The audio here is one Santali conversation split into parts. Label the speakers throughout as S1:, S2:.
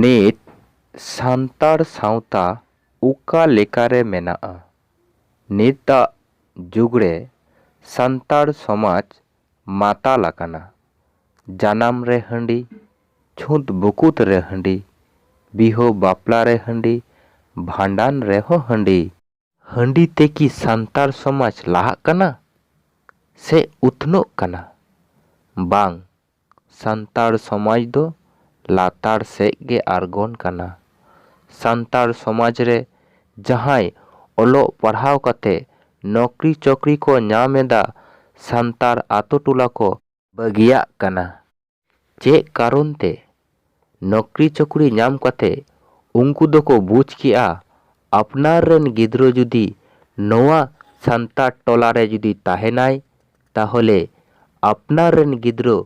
S1: ᱱᱤᱛ ᱥᱟᱱᱛᱟᱲ ᱥᱟᱶᱛᱟ ᱚᱠᱟ ᱞᱮᱠᱟᱨᱮ ᱢᱮᱱᱟᱜᱼᱟ? ᱱᱤᱛᱟᱜ ᱡᱩᱜᱽ ᱨᱮ ᱥᱟᱱᱛᱟᱲ ᱥᱚᱢᱟᱡᱽ ᱢᱟᱛᱟᱞ ᱟᱠᱟᱱᱟ᱾ ᱡᱟᱱᱟᱢ ᱨᱮ ᱦᱟᱺᱰᱤ, ᱪᱷᱩᱸᱛ ᱵᱩᱠᱩᱛ ᱨᱮ ᱦᱟᱺᱰᱤ, ᱵᱤᱦᱟᱹ ᱵᱟᱯᱞᱟ ᱨᱮ ᱦᱟᱺᱰᱤ, ᱵᱷᱟᱸᱰᱟᱱ ᱨᱮᱦᱚᱸ ᱦᱟᱺᱰᱤ᱾ ᱦᱟᱺᱰᱤ ᱛᱮ ᱠᱤ ᱥᱟᱱᱛᱟᱲ ᱥᱚᱢᱟᱡᱽ ᱞᱟᱦᱟᱜ ᱠᱟᱱᱟ ᱥᱮ ᱩᱛᱱᱟᱹᱜ ᱠᱟᱱᱟ? ᱵᱟᱝ, ᱥᱟᱱᱛᱟᱲ ᱥᱚᱢᱟᱡᱽ ᱫᱚ ᱞᱟᱛᱟᱲ ᱥᱮᱡ ᱜᱮ ᱟᱬᱜᱚᱱ ᱠᱟᱱᱟ᱾ ᱥᱟᱱᱛᱟᱲ ᱥᱚᱢᱟᱡᱽ ᱨᱮ ᱡᱟᱦᱟᱸᱭ ᱚᱞᱚᱜ ᱯᱟᱲᱦᱟᱣ ᱠᱟᱛᱮ ᱱᱚᱠᱨᱤ ᱪᱚᱠᱨᱤ ᱠᱚ ᱧᱟᱢ ᱮᱫᱟ, ᱥᱟᱱᱛᱟᱲ ᱟᱛᱳ ᱴᱚᱞᱟ ᱠᱚ ᱵᱟᱹᱜᱤᱭᱟᱜ ᱠᱟᱱᱟ᱾ ᱪᱮᱫ ᱠᱟᱨᱚᱱ ᱛᱮ? ᱱᱚᱠᱨᱤ ᱪᱚᱠᱨᱤ ᱧᱟᱢ ᱠᱟᱛᱮ ᱩᱱᱠᱩ ᱫᱚᱠᱚ ᱵᱩᱡᱽ ᱠᱮᱫᱼᱟ ᱟᱯᱱᱟᱨ ᱨᱮᱱ ᱜᱤᱫᱽᱨᱟᱹ ᱡᱩᱫᱤ ᱱᱚᱣᱟ ᱥᱟᱱᱛᱟᱲ ᱴᱚᱞᱟ ᱨᱮ ᱡᱩᱫᱤ ᱛᱟᱦᱮᱸᱱᱟᱭ ᱛᱟᱦᱚᱞᱮ ᱟᱯᱱᱟᱨ ᱨᱮᱱ ᱜᱤᱫᱽᱨᱟᱹ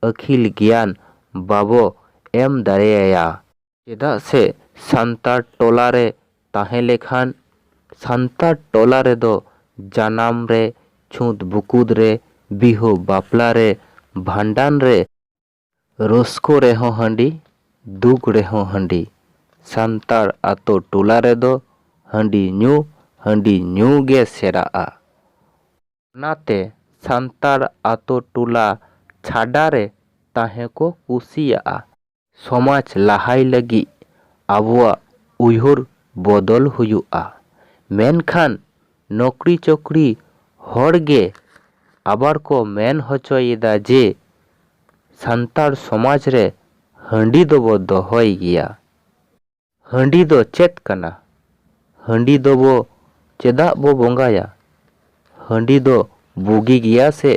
S1: ᱟᱹᱠᱷᱤᱞ ᱜᱮᱭᱟᱱ ᱵᱟᱵᱚ ᱮᱢ ᱫᱟᱲᱮᱭᱟᱭᱟ᱾ ᱪᱮᱫᱟᱜ ᱥᱮ ᱥᱟᱱᱛᱟᱲ ᱴᱚᱞᱟ ᱨᱮ ᱛᱟᱦᱮᱸ ᱞᱮᱠᱷᱟᱱ ᱥᱟᱱᱛᱟᱲ ᱴᱚᱞᱟ ᱨᱮᱫᱚ ᱡᱟᱱᱟᱢ ᱨᱮ, ᱪᱷᱩᱸᱛ ᱵᱩᱠᱩᱫ ᱨᱮ, ᱵᱤᱦᱟᱹ ᱵᱟᱯᱞᱟ ᱨᱮ, ᱵᱷᱟᱸᱰᱟᱱ ᱨᱮ, ᱨᱟᱹᱥᱠᱟᱹ ᱨᱮᱦᱚᱸ ᱦᱟᱺᱰᱤ, ᱫᱩᱠ ᱨᱮᱦᱚᱸ ᱦᱟᱺᱰᱤ, ᱥᱟᱱᱛᱟᱲ ᱟᱛᱳ ᱴᱚᱞᱟ ᱨᱮᱫᱚ ᱦᱟᱺᱰᱤ ᱧᱩ ᱦᱟᱺᱰᱤ ᱧᱩ ᱜᱮ ᱥᱮᱨᱟᱜᱼᱟ᱾ ᱚᱱᱟᱛᱮ ᱥᱟᱱᱛᱟᱲ ᱟᱛᱳ ᱴᱚᱞᱟ ᱪᱷᱟᱰᱟ ᱨᱮ ᱛᱟᱦᱮᱸ ᱠᱚ ᱠᱩᱥᱤᱭᱟᱜᱼᱟ᱾ ᱥᱚᱢᱟᱡᱽ ᱞᱟᱦᱟᱭ ᱞᱟᱹᱜᱤᱫ ᱟᱵᱚᱣᱟᱜ ᱩᱭᱦᱟᱹᱨ ᱵᱚᱫᱚᱞ ᱦᱩᱭᱩᱜᱼᱟ᱾ ᱢᱮᱱᱠᱷᱟᱱ ᱱᱚᱠᱨᱤ ᱪᱚᱠᱨᱤ ᱦᱚᱲ ᱜᱮ ᱟᱵᱟᱨ ᱠᱚ ᱢᱮᱱ ᱦᱚᱪᱚᱭ ᱮᱫᱟ ᱡᱮ ᱥᱟᱱᱛᱟᱲ ᱥᱚᱢᱟᱡᱽ ᱨᱮ ᱦᱟᱺᱰᱤ ᱫᱚᱵᱚ ᱫᱚᱦᱚᱭ ᱜᱮᱭᱟ᱾ ᱦᱟᱺᱰᱤ ᱫᱚ ᱪᱮᱫ ᱠᱟᱱᱟ? ᱦᱟᱺᱰᱤ ᱫᱚᱵᱚ ᱪᱮᱫᱟᱜ ᱵᱚ ᱵᱚᱸᱜᱟᱭᱟ? ᱦᱟᱺᱰᱤ ᱫᱚ ᱵᱩᱜᱤ ᱜᱮᱭᱟ ᱥᱮ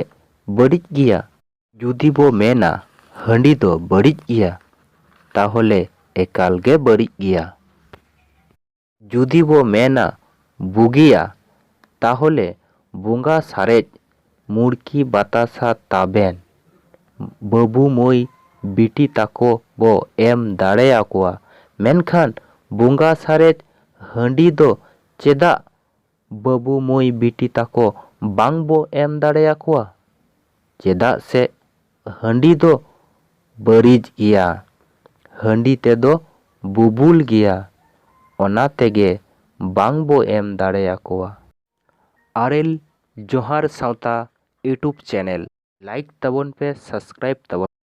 S1: ᱵᱟᱹᱲᱤᱡ ᱜᱮᱭᱟ? ᱡᱩᱫᱤ ᱵᱚ ᱢᱮᱱᱟ ᱦᱟᱺᱰᱤ ᱫᱚ ᱵᱟᱹᱲᱤᱡ ᱜᱮᱭᱟ ᱛᱟᱦᱚᱞᱮ ᱮᱠᱟᱞ ᱜᱮ ᱵᱟᱹᱲᱤᱡ ᱜᱮᱭᱟ᱾ ᱡᱩᱫᱤ ᱵᱚ ᱢᱮᱱᱟ ᱵᱩᱜᱤᱭᱟ ᱛᱟᱦᱚᱞᱮ ᱵᱚᱸᱜᱟ ᱥᱟᱨᱮᱡ ᱢᱩᱲᱠᱤ ᱵᱟᱛᱟᱥᱟ ᱛᱟᱵᱮᱱ ᱵᱟᱹᱵᱩ ᱢᱟᱹᱭ ᱵᱤᱴᱤ ᱛᱟᱠᱚ ᱵᱚ ᱮᱢ ᱫᱟᱲᱮ ᱟᱠᱚᱣᱟ ᱢᱮᱱᱠᱷᱟᱱ ᱵᱚᱸᱜᱟ ᱥᱟᱨᱮᱡ ᱦᱟᱺᱰᱤ ᱫᱚ ᱪᱮᱫᱟᱜ ᱵᱟᱹᱵᱩ ᱢᱟᱹᱭ ᱵᱤᱴᱤ ᱛᱟᱠᱚ ᱵᱟᱝ ᱵᱚ ᱮᱢ ᱫᱟᱲᱮ ᱟᱠᱚᱣᱟ? ᱪᱮᱫᱟᱜ ᱥᱮ ᱦᱟᱺᱰᱤ ᱫᱚ ᱵᱟᱹᱨᱤᱡ ᱜᱮᱭᱟ᱾ ᱦᱟᱺᱰᱤ ᱛᱮ ᱫᱚ ᱵᱩᱵᱩᱞ ᱜᱮᱭᱟ᱾ ᱚᱱᱟ ᱛᱮᱜᱮ ᱵᱟᱝ ᱵᱚ ᱮᱢ ᱫᱟᱲᱮ ᱟᱠᱚᱣᱟ᱾ ᱟᱨᱮᱞ ᱡᱚᱦᱟᱨ ᱥᱟᱶᱛᱟ ᱭᱩᱴᱩᱵ ᱪᱮᱱᱮᱞ᱾ ᱞᱟᱭᱤᱠ ᱛᱟᱵᱚᱱ ᱯᱮ ᱥᱟᱥᱠᱨᱟᱭᱤᱵ ᱛᱟᱵᱚᱱ ᱯᱮ᱾